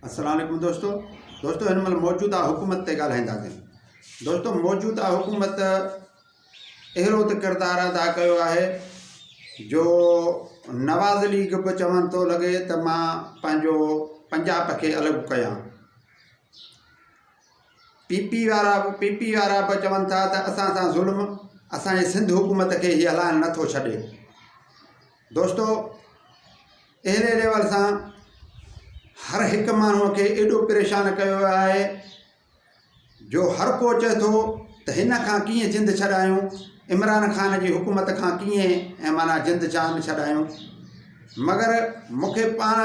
السلام عليڪم دوستو دوستو هن مهل موجوده حڪومت تي ڳالهائينداسين دوستو موجوده حڪومت اهڙو ته ڪردار ادا ڪيو آهي جو نواز ليگ به چون ٿو لڳي ته مان پنهنجو پنجاب کي الڳ ڪيان پي پي وارا پي پي وارا به چون ٿا ته اسان سان ظلم اسانجي سنڌ حڪومت کي هي هلائڻ نٿو ڇڏي دوستو اهڙي ليول سان هر هڪ ماڻهو کي ايڏو پريشان ڪيو ويو آهي جو هر ڪو چئي ٿو ته هن کان ڪيئن جند ڇڏايون عمران خان جي حڪومت کان ڪيئن ۽ مانا جند جان ڇڏايون مگر مونکي پاڻ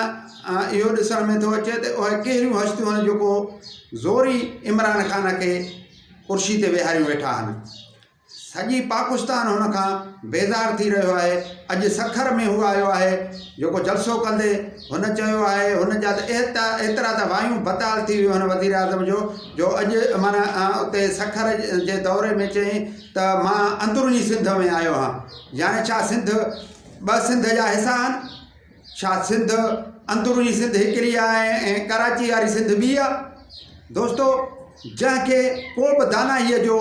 اهو ڏسڻ ۾ ٿو اچي ته اهي ڪهڙيون هستيون آهن جيڪو زوري عمران خان کي ڪرسي تي ويهاريون ويٺا آهن سڄي پاڪستان هن کان بيزار ٿي رهيو آهي، اڄ سکر ۾ هو آيو آهي، جيڪو جلسو ڪندي هن چيو آهي هن جا ته ايترا ته وايون بتال ٿي ويون هن وزيراعظم جو جو اڄ عمران اتي سکر جي دوري ۾ چيائين ته مان اندروني سنڌ ۾ آيو آهيان يعني ڇا سنڌ ٻه سنڌ جا حصا آهن. ڇا سنڌ اندروني سنڌ هڪڙي آ ۽ ڪراچي واري سنڌ ٻي آ دوستو جنهن کي ڪو به داناهي جو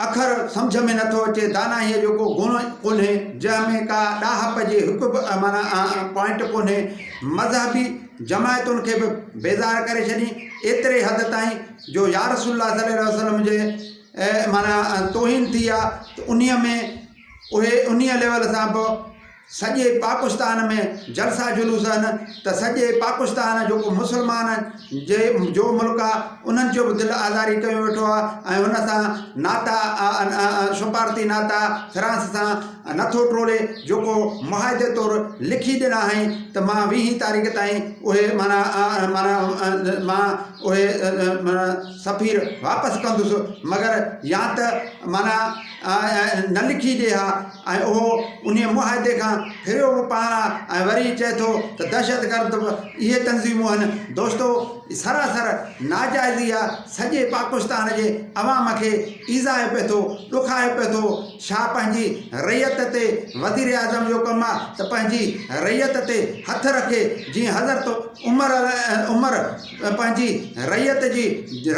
اکر سمجھ ۾ نٿو اچي داناهي جو ڪو گڻ ڪونهي جنهن ۾ ڪا ڏاهپ جي هڪ به مانا پوائنٽ ڪونهي مذهبي جماعتن کي به بيزار ڪري ڇڏي ايتري حد تائين جو يارس الله صلي وسلم جي مانا توهين ٿي آ انهي ۾ اهي انهيء ليول سان به سڄي پاڪستان ۾ جلسا جلوس آهن ته سڄي پاڪستان جيڪو مسلمان جي جو ملڪ آهي انهن جو به دل آزاري ڪيو ويٺو آهي ۽ ان سان ناتا سفارتي ناتا فرانس سان نٿو ٽوڙي جيڪو معاهدي طور لکي ڏنا هئائين ته مان ويهين تاريخ تائين اهي معنيٰ معنيٰ مان اهي سفير واپس ڪندس مگر يا ته معنيٰ نه لکي ڏي ها ۽ اهو انهيء معاهدي کان ڦريو به پاڻ آ ۽ وري چئي ٿو ته دهشتگرد به اهي تنظيمون هن. دوستو سراسر ناجائزي آ، سڄي پاڪستان جي عوام کي ايذائي پئي ٿو، ڏکائي پئي ٿو، ڇا پنهنجي رعيت تي وزيراعظم جو ڪم آ ته پنهنجي رعيت تي هٿ رکي جيئن حضرت عمر عمر پنهنجي رعيت جي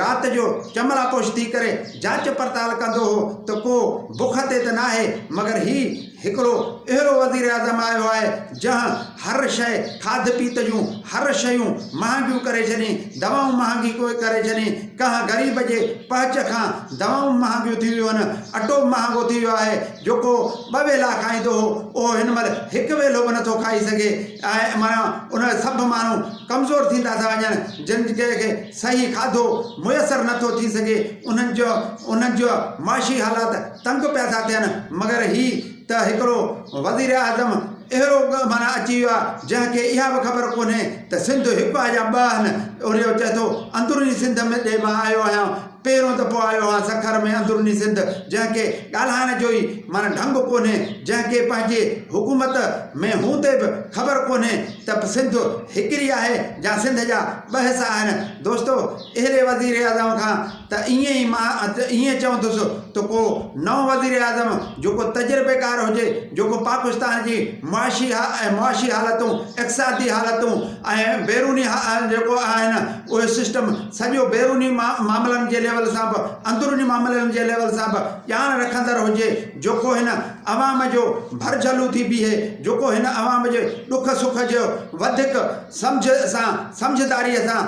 رات جو چملاپوش ٿي ڪري جاچ پڙتال ڪندو هو ته ڪو بک تي ته ناهي مگر هي هڪڙو اهڙو وزيراعظم آيو آهي جنهن هر شيء کاڌ پيت جون هر شيون مهانگيون ڪري ڇڏين دوائون مهانگي ڪري ڇڏين ڪنهن غريب جي پهچ کان دوائون مهانگيون ٿي ويون آهن اٽو مهانگو ٿي ويو آهي جيڪو ٻه ويلا کائيندو هو اهو هن مهل هڪ ويلو به نٿو کائي سگهي ۽ معنيٰ ان سڀ ماڻهو ڪمزور ٿيندا ٿا وڃن جن ڪنهن کي صحيح کاڌو ميسر نه ٿو ٿي سگهي انهن جو انهن جو معاشي حالات تنگ پيا ٿا ٿين مگر هي ته هڪڙو وزيراعظم اهڙو معنيٰ اچي ويو آهي جنهن کي اها به خبر ڪونهي ته سنڌ هڪ آهي يا ٻه آهن اهڙو چئي ٿو اندروني سنڌ ڏي مان آيو آهيان پهريون دفعو آيو آهيان سکر ۾ اندروني سنڌ جنهن کي ڳالهائڻ جو ئي معنيٰ ڍنگ ڪونهي، جنهن کي پنهنجي حڪومت ۾ هوندي به خبر ڪونهي ته سنڌ هڪڙي آهي يا سنڌ جا ٻه حصا آهن. دوستو اهڙي وزيراعظم کان ته ائين ئي مان ائين چوندس ته ڪو نئون وزيراعظم جيڪو تجربيڪار هجي، جيڪو پاڪستان جي معاشي ۽ معاشي حالتون، اقتصادي حالتون، ۽ بيروني جيڪو آهن اهي سسٽم سڄو بيروني معاملن جي ليول سان به اندروني معاملن جي ليول سان به ڄاڻ رکندڙ هجي جيڪو هن عوام جو ڀرجهلو ٿي بيهي جيڪو هن عوام جي ڏک سک جو وڌيڪ سمجهه سان سمجهداري سان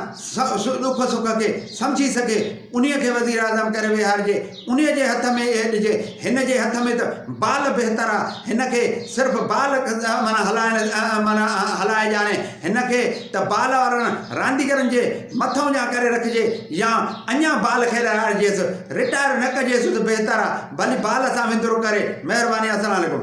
ڏک سک کي سمجهي سگهي انهي کي وزيراعظم ڪري ويهارجي انهيء جي هٿ ۾ اهي ڏجي. هن جي هٿ ۾ ته بال بهتر آ. هن کي صرف بال هلائي ڄاڻي. هن کي ته بال وارن رانديگرن جي مٿئون جان ڪري رکجي يا اڃا بال کيڏارائجيس. رٽائر نه ڪجيس ته بهتر آ. ڀلي بال سان وندرو ڪري. مهرباني السلام عليڪم.